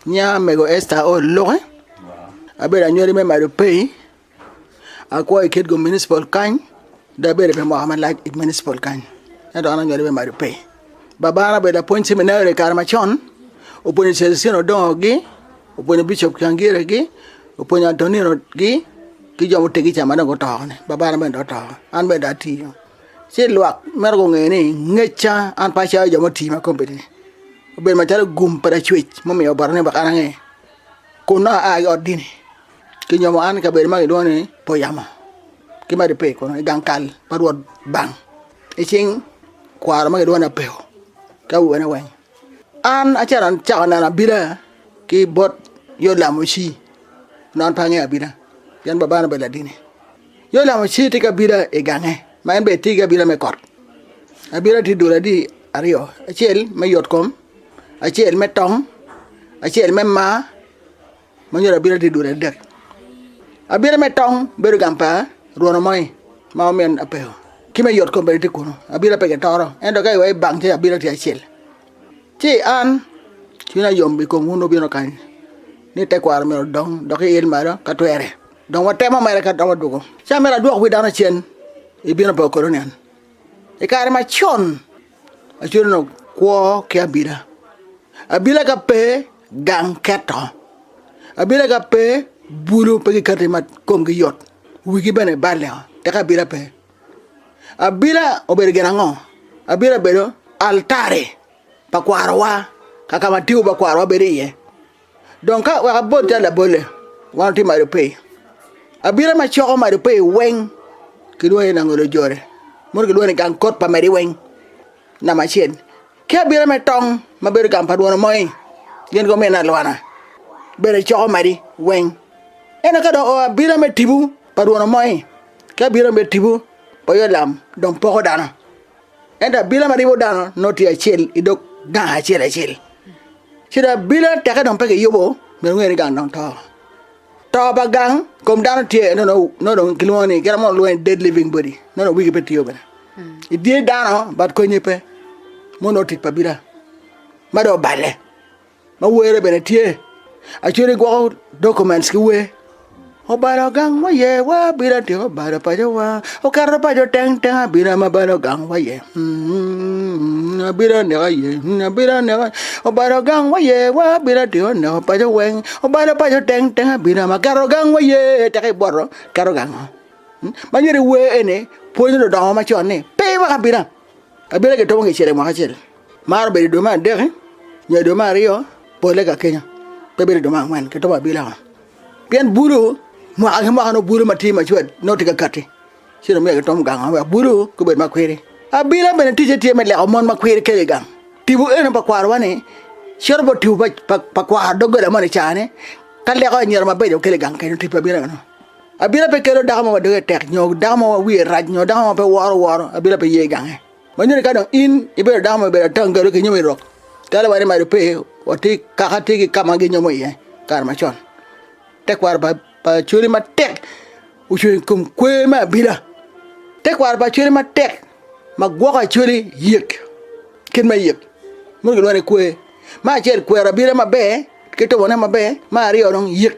Nya mego Esther Aol Luke, abedo anywali me Madopey, akwo i Kitgum Municipal kany, dong abedo pi mwaka malac i municipal kany, ento an anywali me Madopey. Babana obedo lapwony ciminari i kare macon, opwonyo Celestino Odongo-gi, opwonyo Bicop Cangiregi, opwonyo Antonino-gi, ki jo muteggi ca ma dong guto-ni, babana bene dong oto, an bene dong atiyo. ci lwak mito gunge ni ngeca an pe acalo jo mutii ma kombeddi obedo macalo gum pa lacwec mumiyo oboto ni wek an ange kun nongo aa ki i ot dini kinyomo an i kabedo ma kilwongo ni puyamo ki ma gibbe kunu i gang kal pa rwot bang i cing kwaro ma kilwongo ni apeko ki awene weng an acito acako neno abila ki bot yo lamuci onongo an pe angeyo abila pien babana obedo ladini. Yo lamo ci tye ki abila i gange, ma en bene tye ki abila me kot. Abila tye dul adi aryo, acel me yotkom, acel me tong, acel me mar, ma nyo abila tye dul adek. Abila me tong bedo gang pa rwono moi ma omin apeko, ki me yotkom bene tye kunu. Abila pe gitoro, ento ka iweko ibang ci abila tye acel. Ci an, cwinya yom i kom wun wubino kany, ni tekwaro myero odong dok iil malo ka twere. Dong watemo mere ka dok wadwogo can me ladwok wi dano acen i bino pa Okolonian. I kare macon, Acuranok kwo ki abila. Abila ka pe, gang keto. Abila ka pe, bulu pe gikati ma komgi yot, wigi bene baleo, tek abila pe. Abila obedo gin ango? Abila obedo altari pa kwarowa, kaka ma tibu pa kwarowa bedo iye. Dong ka wek abol calo labolle, wan watye malo pe. Abira ma coko malo pe weng kilwongo ni langolo jore, mono kilwongo ni gang kot pa madi weng namba acel. Ki abira me tong ma bedo gang pa lwono moi, gin gumina alwana bene coko madi weng. Ento ka dong oo abira me tipo pa lwono moi ki abira me tipo pa oyo lam dong poko dano. Ento abila ma ribo dano nongo tye acel i dog gang acel acel. Ci dong abila teke dong pe kiyubo myero wungene ni gang dong to. To pa gang kom dano tye no no no dong kilwongo ni kite mo lwongo ni dead living body no dong wigi pe tiyo bene. I dye dano bat konye pe mo no tic pa abila ma dong oballe. ma were bene tye acudu i gwoko documents ki wer obalo gang waye wa abino atyeko obalo paco wa oketo paco teng teng abino ama abalo gang waye abino aneko aye abino aneko aye obalo gang waye wa abino atyeko neko paco weng obalo paco teng teng abino ama aketo gang waye teka iboto iketo gango ma myero iwer eni pwonyo ludongo macon ni pe iwek abina. Kabila gi tomo ngecele mwaka acel maro bedo idwe me adeki nyo idwe me aryo pole ka kenyo pe bedo idwe me angwen ki tomo abila o pien bulu mwaka ki mwaka nongo bulu ma tye macwet nongo tye ka kati ci dong myero ki tom gang o wek bulu gubed ma kwiri abila bene ticce tye me leko mon ma kwiri kelo igang tipo eno pa kwaro wa ni cito bot tipo pa pa kwaro dogola moni icaa ni ka leko anyira mabeco kelo igang kenyo tipo abila meno Abita pe kelo dako mo ma doge tek nyo dako mo ma wiye rac nyo dako mo ma pe woro woro abita pe ye i gange. Ma nyuto ni ka dong in ibedo dako ma obedo atangalo kinyomo i rok, calo wan imaco pe, watye kaka tye ki ka ma ginyomo iye i kare macon. Tekwaro pa Acholi matek ocung i kom kwer me abita. Tekwaro pa Acholi matek ma gwoko Acholi yek, kit me yek mogo gilwongo ni kwer. Me acel kwero abita maber ki tubone maber, me aryo dong yek.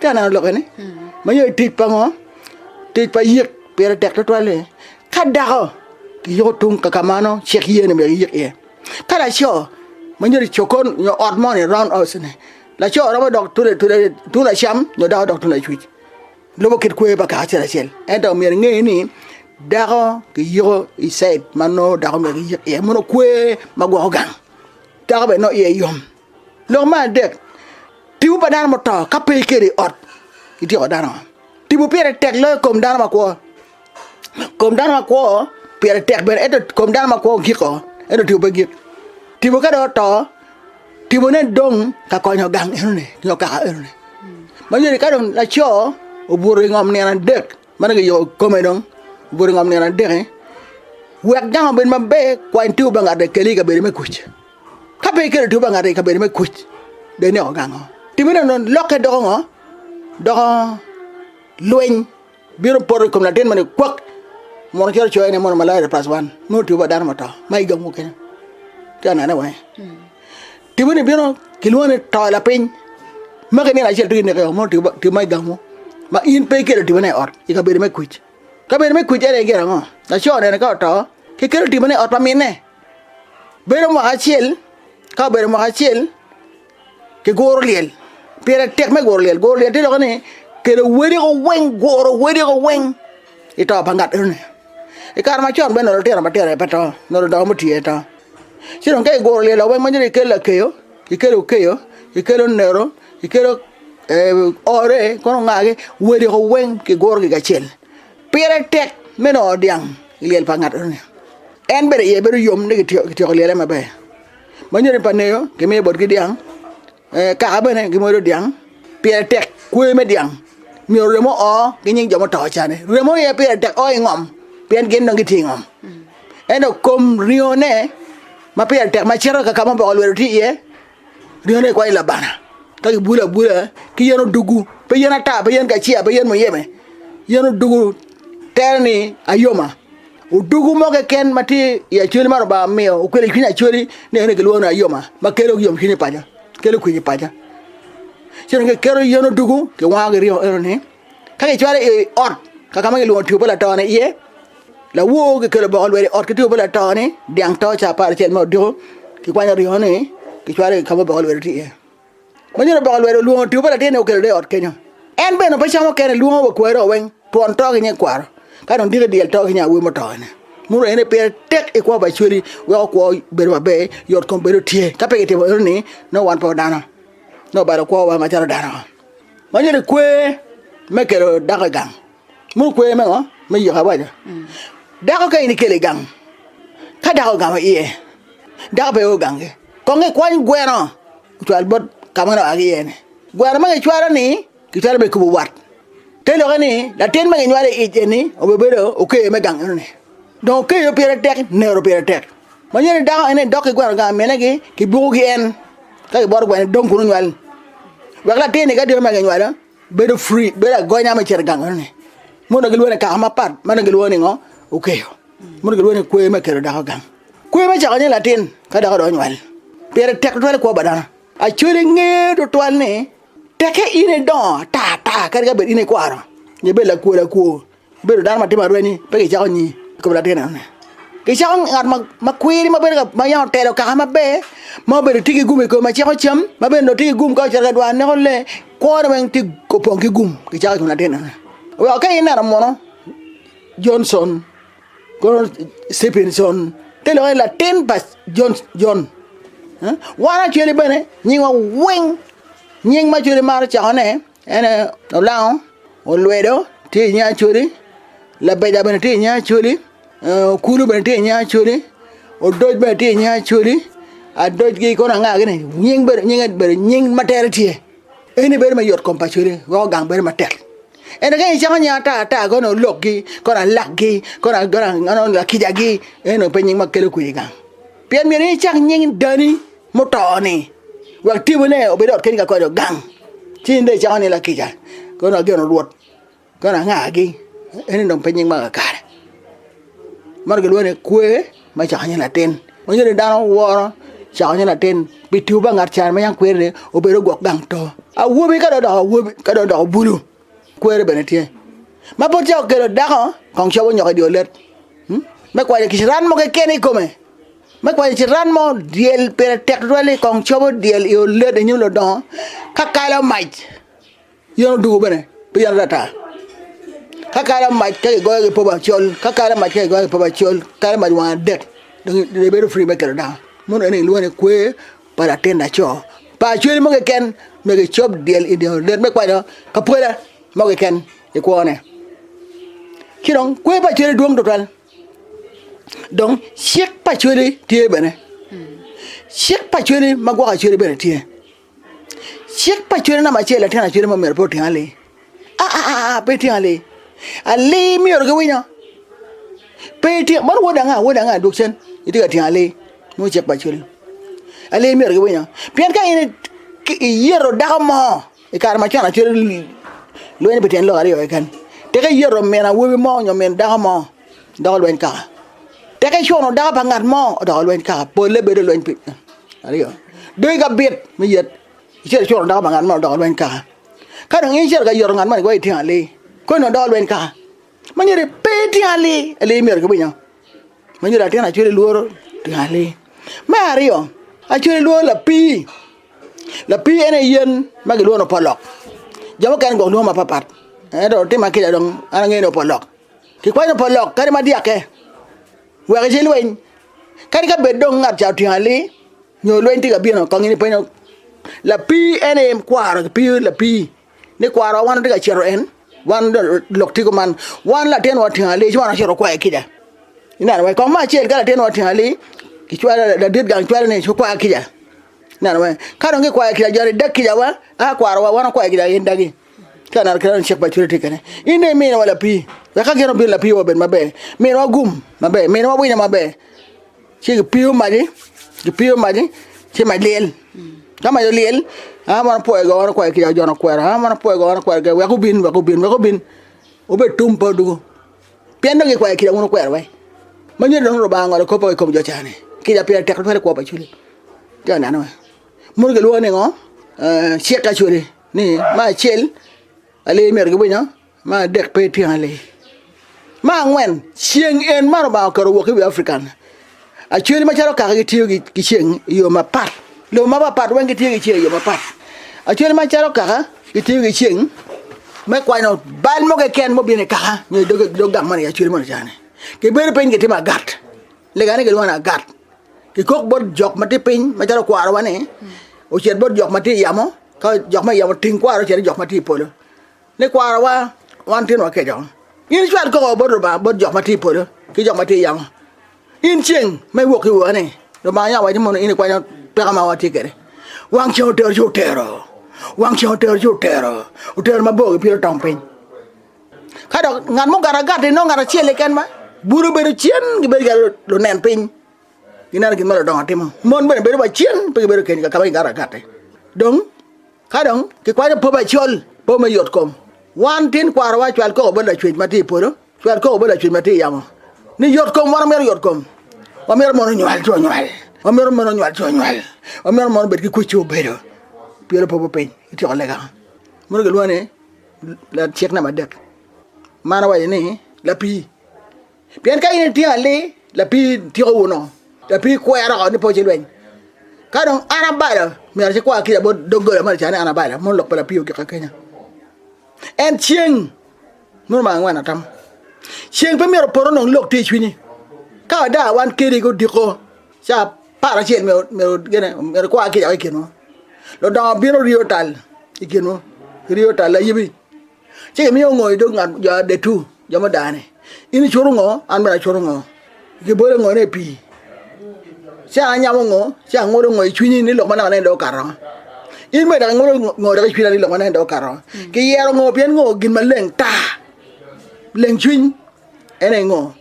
Ka aneno lokke ni ma ye tic pa ngo tic pa yik pire tek tutwal ni ka dako ki yuko tung ka mano cik ye ni myero iyik iye ka laco ma nyo ni cogon nyo ot moni round house ni laco romo dok tung tung lacam nyo dako dok tung lacwic lubo kit kwoyo pa kaka acel acel ento myero inge ni dako ki yuko i cid ma nongo dako myero ki yik iye mono kwe ma gwoko gang dako bene nongo iye yom. Lok me adek, Tipo pa dano muto ka pe ikedo i ot ityeko dano. Tipo pire tek loyo kom dano makwo. Kom dano makwo pire tek bene ento kom dano makwo giko ento tipo pe gik. Tipo ka dong oto, tipone dong ka konyo gang enoni nyo kaka enoni. Ma yadi ka dong laco obuto i ngom nino adek ma dong kiyubo kome dong obuto i ngom nino adek-ki, wek gang obed maber kwany tipo pa ngat-ti ekeli i kabedo me kuc. Ka pe ikelo two pa ngati i kabedo me kuc, do ineko gango? Timme nono, lokke doko ngo? Doko lweny bino poto i kom latin moni kwak, mono calo coyo ne mono malaria plus one, nongo two pa dano mato ma i jok mukene. Ci anene wange. Timme ni bino kilwongo ni to lapiny, maki nino acel tung ineko mono two pa two ma i gamu ma in pe ikelo timme ne i ot i kabedo me kuc. Kabedo me kuc ene gin ango? Laco nene ka oto kikelo timme ne i ot pa minne. Bedo mwaka acel ka obedo mwaka acel kiguro lyel pire tek me guro lyel, guro lyel tye lok ni kelo wediko weng guro wediko weng i to pa ngat enoni i kare macon bene onongo lutino matino aye pe to onongo ludongo mutii aye to ci dong ka iguro lyel weng manongo ikelo lakeyo, ikelo okeyo, ikelo nero, ikelo ore kono ongaki wediko weng kigurogi kacel. Pire tek me nongo dyang i lyel pa ngat enoni, en bene iye bedo yom ni kityeko lyele maber. Ma nyodi pa ngeyo kimiyo botgi dyang, kaka bene gimwodo dyang pire tek kwoyo me dyang myero remo o ki nying jo muto ca ni, remo aye pire tek o i ngom pien gin dong gitye i ngom ento kom ringo ne ma pire tek macito kaka ma oboko lwedo tye iye Ringo-ne kikwanyo i labana ka kibulo abula ki yen odungu pe yen ata pe yen kaciya pe yen muyeme yen odungu tere ni ayoma odungu mo keken ma tye i acholi ma Lubanga omiyo okwelo i cwiny acholi ni ene kilwongo ni ayoma ma kelo yomcwiny i paco kelo kwe i paco ci dong kiketo yen odungu kiwango ki ringo eno-ni Ka kicwalo i ot kaka ma kilwongo two pa lato-ni iye, lawor kikelo boko lwelo i ot ki two pa lato-ni, dyang to cawa aparacel ma odiko, kikwanyo ringo-ni kicwalo i ka ma oboko lwelo tye iye. Manyodo oboko lwelo olwongo two pa latin-ni okelo dong i ot kenyo. En bene pe camo kene, lwongo wa kwareo weng, twon to ki nyikwaro, ka dong diki dyel to ki nya awobi muto-ni. Muno aye ni pire tek ikwo pa Acweli weko kwo bedo maber, yot kom bedo tye. Ka pe kitimo enoni, nongo wan pe wadano, nongo balo kwowa macalo dano-o. Man eni kwer me kelo dako i gang ma okwer me ngo me yiko awaco dako ka in ikelo i gang ka dako ogamo iye dako pe o gangi kong ikwany gweno ocwal bot ka ma en oa ki iye ni gweno ma kicwalo ni kicwalo me kubo wat te lokke ni latin ma kinywalo i ic eni obi bedo oker me gang enoni dong okeyo pire tek nero pire tek manyen dako en dok ki gweno gang minegi kibuko gi en. Ka kiboto kwene dong kunu nywal ni. Wek latinni ka dito ma kinywalo bedo free, bedo agonya me cito i gangone ni. Mono dong gilwongo ni kaka mapat ma dong gilwongo ni ngo? Okeyo. Mono gilwongo ni kwe me kelo dako i gang. Kwe me cako nying latin ka dako dong onywal. Pire tek tutwal i kwo pa dano. Actually nge tutwal ni tekke in idongo ata ata kadi ka bed in ikwaro nyo ibedo lakwo lakwo. Ibedo dano ma timo arwenyo pe kicako nyi i kom latin enoni, kicako ngat ma kwiri ma bedo ma yam otelo kaka maber ma obedo tye ki gum i kome ma ciko cam ma bene dong tye ki gum ka ocito ka dwar neko lee kwone weng tye opong ki gum kicako i kom latin enoni weko ka ineno munu Johnson kono Stephenson te lok ni latin pa John John wan Acwele bene nyingwa weng nying ma Acwele maro cako ne En aye olango, olwedo tye i nge Acholi, labega bene tye i nge Acholi, okulu bene tye i nge Acholi, odoc bene tye i nge Acholi, adoc ki kono anga gini nying bene nyinge bene nying ma tere tye, ene bedo ma yot kom pa Acholi weko gang bedo matek, ento ka icako nying ata ata kono olokgi kono alakgi kono kono lakijagi eno pe nying ma kelo kwir i gang. Pien myero in icak nying dani muto-ni, wek tibone obed i ot keni ka kodi ogang, ci in dong icako ni Lakica kono ageno Rwot, kono angagi, eni dong pe nying ma kakare. Man gilwongo ni kwer me cako nying latin. Manyo ni dano woro cako nying latin pi tiyo pa ngat carani ma yam kwer-ri obedo ogwok gang to. Awobi ka dong odoko awobi ka dong odoko bulu Kweri bene tye ma pud ca okelo dako kong cobo nyoko i dye olet me kwanyo kiciran mo keken i kome, me kwanyo ciran mo dyel pire tek tutwal ni kong cobo dyel i olet i nyim ludongo ka kalo mac yen odwogo bene pe yen ata ata ka kalo mac ka kigoyo ki popo acol ka kalo mac ka kigoyo ki popo acol kalo mac wang adek dong ibedo free me kelo dako meno aye kilwongo ni kwer. pa latin laco pa cwali mo keken nyo kicop dyel i dye olet me kwanyo apwada mo keken i kwone ci dong kwer pa cwali dwong tutwal dong cik pa cwali tye bene cik pa cwali ma gwoko cwali bene tye cik pa cwali namba acel latin cwali ma myero pe oting aling. Aa, pe ityeko ali ali myero giwinyo, pe ityeko man wod anga wod anga dwog cen itye ka tyeko ali nongo icek pa cwalo ali myero giwinyo pien ka in iyeto dako mo i kare macon calo lweny pi tyen lok aryo keken tika iyeto min awobi mo nyo min dako mo doko lweny kaka, tika icuno dako pa ngat mo odoko lweny kaka pole bedo lweny pi aryo dong ka bit me yet icuno dako pa ngat mo odoko lweny kaka. Ka dong in icito ka yoto ngat mo ni kong itino ali, kodi nongo dong olweny kaka ma nyo ni pe itino ali, ali myero kibino inyo ma nyo latin acwele lworo tino ali. Me aryo acwele lworo lapii, lapii en aye yen ma kilwongo ni opolok jo mukene gwok lwongo mapapat ento tima kica dong an angeyo ni opolok kikwanyo opolok kadi ma dyake wek icilweny kadi ka bed dong ngat ca otino ali Nyo lweny tye ka bino akongi ni penyo lapii en aye kwaro kipiyo lapii ni kwarowa wan watye ka cito en wan lok tipo man wan latinwa otingo ali ci wan wacito wakwayo kica ineno wai kong me acel ka latinwa otingo ali kicwalo ladit gang cwalo ni cit kwa kica ineno wai ka dong kikwayo kica joni dag kica wa a kwarowa wan wakwayo kica gin dagi ka ineno kit ma dong cik pa Authority tye kene in dong iminiwa lapii wek ka gin obino lapii wa obed maber miniwa gum maber miniwa winyo maber. Ci gipiyo magi, gipiyo magi ci mac lyel. Ka mac olyel, aa mono pwoyo go mono kwero kica ojono kwero, aa mono pwoyo go mono kwero kica wek obin, wek obin, wek obin, wubed tum pe odwogo. Pien dong gikwayo kica wun wukwero wai. Ma nyodi dong Lubanga ongolo kop-pe wa i kom jo ca-ni, kica pire tek twere i kwo pa Acweli. Ti aneno-e, muno gilwongo ni ngo? Ee, cik Acweli ni me acel, ali myero giwinyo. Ma adek pe ityen ali. Ma angwen ceng en ma lubanga oketo wok iwi African acweli macalo kaka gitiyo ki ceng iyo mapat lobo mapat pat weng gitiyo ki ceng iyo mapat acweli macalo kaka gitiyo ki ceng me kwanyo bal mo keken ma obino i kaka nyo i dog gang moni acweli moni cani kibedo piny kitimo agat lega ni kilwongo ni agat kikok bot jok ma tye piny macalo kwarowa ni ocit bot jok ma tye i yamo ka jok ma i yamo oting kwaro ocit i jok ma tye i polo Ni kwarawa wan tin wakeco. In icwal koko bot Lubanga bot jo ma tye i polo ki jo ma tye yamo. In ceng ma iwok ki wone, Lubanga yam owaco mono in ikwanyo tweka ma watye kwede. Wang ceng otero ci otero, wang ceng otero ci otero, otero mabor ki piro tong piny. Ka dok ngat mugato agati nongo ngat acel keken ma bute obedo cen gibedo calo lunen piny gineno gin ma ludongo timo. Mon bene bedo wa cen pe gibedo kenyo ka ma kigato agati. Dong Ka dong kikwanyo po macol, po me yotkom, wan tin kwarowa cwal koko bot Lacwec ma tye i polo, cwal koko bot Lacwec ma tye i yamo ni yotkom. Wan wamito yotkom, wamito mon onywal co onywal, wamito mon onywal co onywal, wamito mon obed ki kwec ci obedo pien opobo piny ki tyeko lega mono kilwongo ni lacik namba adek, man awaco ni lapii. Pien ka in itino ali, lapii tiko wunu, lapii kwero oko ni pe wacilweny. Ka dong an abalo, myero cikwar kica bot doggola ma lica ni an abalo, mono lok pa lapii ogika kenya. En ceng, mono ma angwen atam, ceng pe myero opoto nong lok tye i cwinyi. Ka wada wan keni odiko ca apar acel myero gine myero ikwar kica woko i kinwu. Ludongo bino riyo tal i kinwu, riyo tal ayibi Ci imiyo ngo i dog ngat jo adetu, jo mudane? In icuto ngo, an bene acuto ngo? Gibole ngone i pii? Ci anyamo ngo, ci angulo ngo i cwinyi ni lok ma naka nene dong okato? In bene dok ingulo ngo dok i cwinya ni lok ma nene dong okato? Kiyero ngo pien ngo gin maleng ta, leng cwiny, en aye ngo?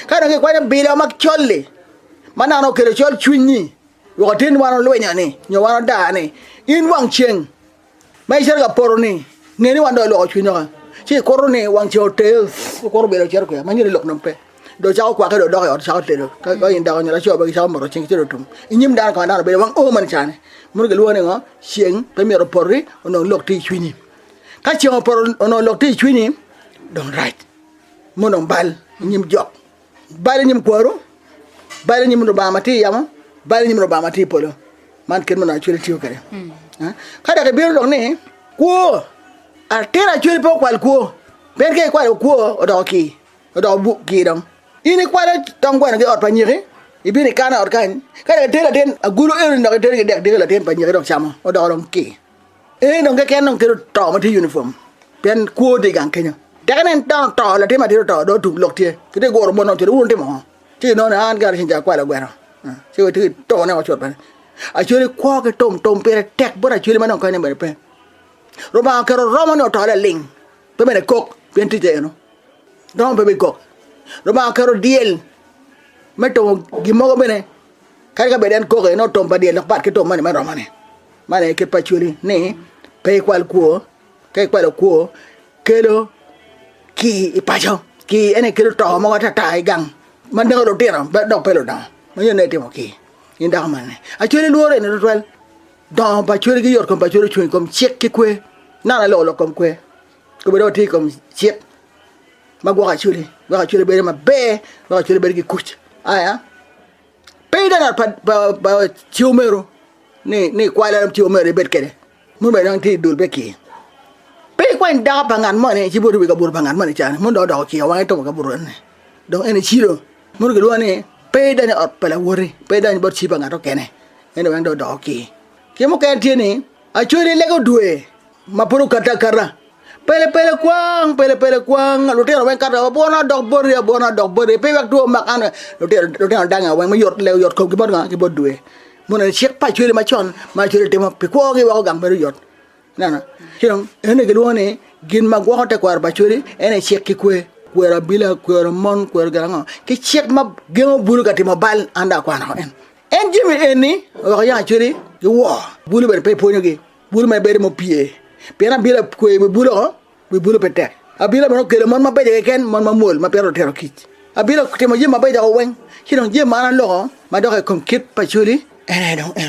Ka dong kikwanyo bilo ma col-li, ma naka nongo okelo col cwiny-nyi, wek otin wan olwinyo-ni, nyo wan odaa-ni, in wang ceng Ma icito ka poto-ni, nge ni wan dong iloko cwinywa ka, ci ikuto ni wang ceng oter, ikuto myero icit kwia ma nyuto ni lok dong pe. Dong icako kwakke dong idok i ot icako tedo, ka in dako nyo laco bene gicako moto ceng gicito i tum. I nyim dano kong dano bedo wang oo meno cani, meno gilwongo ni ngo? Ceng pe myero opoti onongo lok tye i cwinyi. Ka ceng opoto onongo lok tye i cwinyi dong rac, ma onongo bal i nyim jo. Bal i nyim kwaru, bal i nyim Lubanga ma tye i yamo, bal i nyim Lubanga ma tye i polo. Man kit ma onongo Acweli tiyo kwede. Eh, Ka dok ibino dok ni, kwo, atin Acweli pe okwal kwo, pien ka ikwalo kwo odoko kii, odoko bu- kii dong. In ikwalo tong gweno ki ot pa nyiki, ibino ikano i ot kany, ka dok itero latin agulu eno-ni dok itero ki i dek diki latin pa nyiki dok camo, odoko dong kii. Ee, dong keken dong kelo to ma tye unifom, pien kwo tye i gang kenyo. Teke nen dano oto, latin atir oto, dong otum lok tye, kitye guro mon ocito wun wutimo ngo? Ci kinongo ni an gara ceng ca akwalo gweno, ci wacito ki to ne wacot bene. Acwali kwo ki tum, tum pire tek bot acwali ma dong konye bene pe. Rubanga oketo romo ni oto laling, pe bene kok, pien ticce eno, romo pe bikok. Rubanga oketo dyel me tumo gin mogo bene, kadi ka bed en kok eno, tum pa dyel dok pat ki tum moni me romo ni. Man aye kit paculi ni pe ikwal kwo, ka ikwalo kwo kelo kii i paco, kii ene kelo to mogo atata i gang ma neko lutino dok pe ludongo ma nongo itimo kii in dako man ni. Acholi lworo eni tutwal, dongo pa acholi ki yot kom pa acholi ocung i kom cik ki kwe, nano aye loko lok kom kwe kobedong watye i kom cik ma gwoko acholi wek acholi bedo maber wek acholi bedo ki kuc aya. Pe ineno ot pa ciomero ni ikwai larom ciomero ibed kede mono bene dong tye i dul pe ki pe ikwany dako pa ngat moni ci bot ibi kabuto pa ngat moni cani mono dong odoko okiyo wange tuko kabuto en ni dong en ecilo mono gilwongo ni pe idony i ot pa lawoti pe idony bot ci pa ngat mukene en ni weng dong odoko okir ki mukene tye ni acwali lege odwe ma pud okato akata, Pele pele kwang, pele pele kwang, lutino weng kato abwona odok boti, abwona odok boti pi wek two omak an, lutino danga weng me yot leo yot komgi bot nga ki bot dwe, mono en aye cik pa Acholi macon ma Acholi timo pi kwo gi weko gang bedo yot, ineno ci dong ene gi lwongo ni gin ma gwoko te kwaro pa Acholi en aye cik ki kwe, kwero abila, kwero mon, kwero gin ango ki cik ma gengo bulu ka timo bal an dong akwano woko en, en jami eni weko yam Acholi gi wor bulu bene pe pwonyo gi. Bulu ma ibedo mupye, pien abino a kweyo i wi bulu o, wi bulu pe tek. Abino bene kelo mon mabeco keken, mon mamwol ma pire otero kic. Abino timo jami mabeco doko weng, ci dong jami man aloko madok i kom kit pa coli, en aye dong eno.